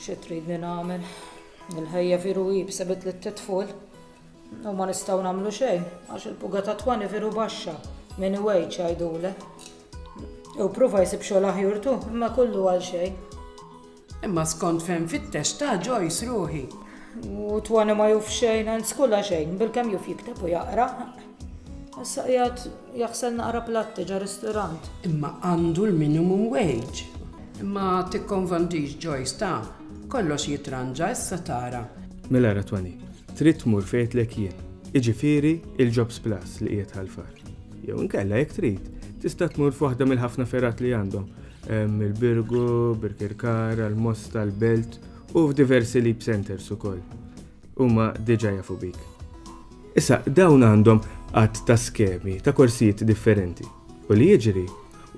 Xi tridni nagħmel? Il-ħajja viru hi b'sebet li titful. U ma nistgħu nagħmlu xejn għax il-puga ta' twani viru baxxa minn iwejġ għajdule. U prova jsib xogħol aħjur tu, imma kullu għal xejn. Imma skont fejn fittex ta' ġojs ruħi. U twani ma juf xejn, għand skula xejn, bil-kem juf jikteb u jaqra. Issa qiegħed jaħsel naqra platti ġo risturant. Imma għandu l-minimum wage. Imma tikkonvondix Joyce ta. Kollox jitranġa issa tara. Mela ara Toni, trid tmur fejn għedtlek jien, jiġifieri il-Jobs Plus li qiegħed Ħal Far. Jew inkella jekk trid, tista' tmur f'waħda mill-ħafna fergħat li għandhom, hemm il-Birgu, Birkirkara, l-Mosta, l-Belt u f'diversi Leap Centres ukoll. huma diġà jafu bik. Issa, dawn għandhom għadd ta' skemi ta' korsijiet differenti u li jiġri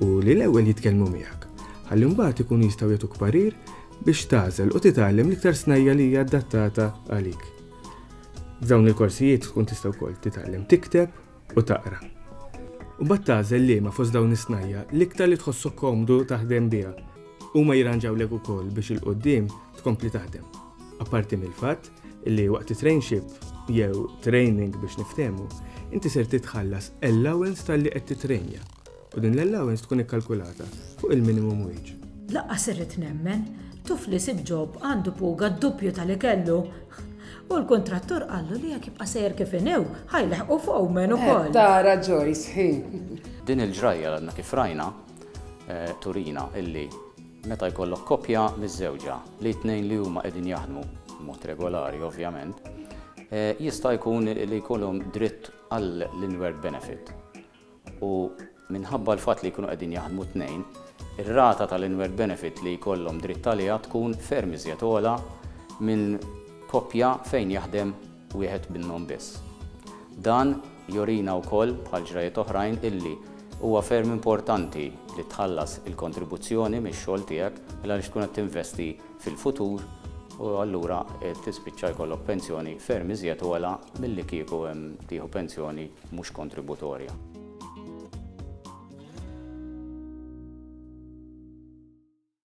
hu li l-ewwel jitkellmu miegħek, ħalli mbagħad ikunu jistgħu jagħtuk parir biex tagħżel u titgħallem l-iktar snajja li hija adattata għalik. F'dawn il-korsijiet tkun tista' wkoll titgħallem tikteb u taqra. U mbagħad tagħżel liema fost dawn is-snajja l-iktar li tħossok komdu taħdem biha. Huma jirranġawlek ukoll biex il-qudiem tkompli taħdem. Apparti mill-fatt li waqt it-trainship jew training biex niftehmu, inti ser titħallas allowance tal-li qed titrejnja. U din l-allowance tkun ikkalkulata fuq il-minimum wage. Lanqas irrid nemmen, tuf li sib ġob għandu puga d-duppju ta' li kellu. U l-kuntrattur qallu li jekk jibqa' sejjer kif inhu, ħa jlaħqu foreman ukoll. Qed tara Joyce hi. Din il-ġrajja li għadna kif rajna turina illi meta jkollok koppja miżżewġa li t-tnejn li huma qegħdin jaħdmu b'mod regolari ovvjament, jista' jkun li jkollhom dritt għall-inward benefit. u minħabba l-fatt li jkunu qegħdin jaħdmu t-tnejn, ir-rata tal-inward benefit li jkollhom dritt għaliha tkun ferm iżjed ogħla minn koppja fejn jaħdem wieħed minnhom biss. Dan jurina wkoll, bħal ġrajjiet oħrajn, illi huwa ferm importanti li tħallas il-kontribuzzjoni mix-xogħol tiegħek il-għaliex tkun qed tinvesti fil-futur u allura tispiċċa jkollok pensjoni ferm iżjed ogħla milli kieku tieħu pensjoni mhux kontributorja.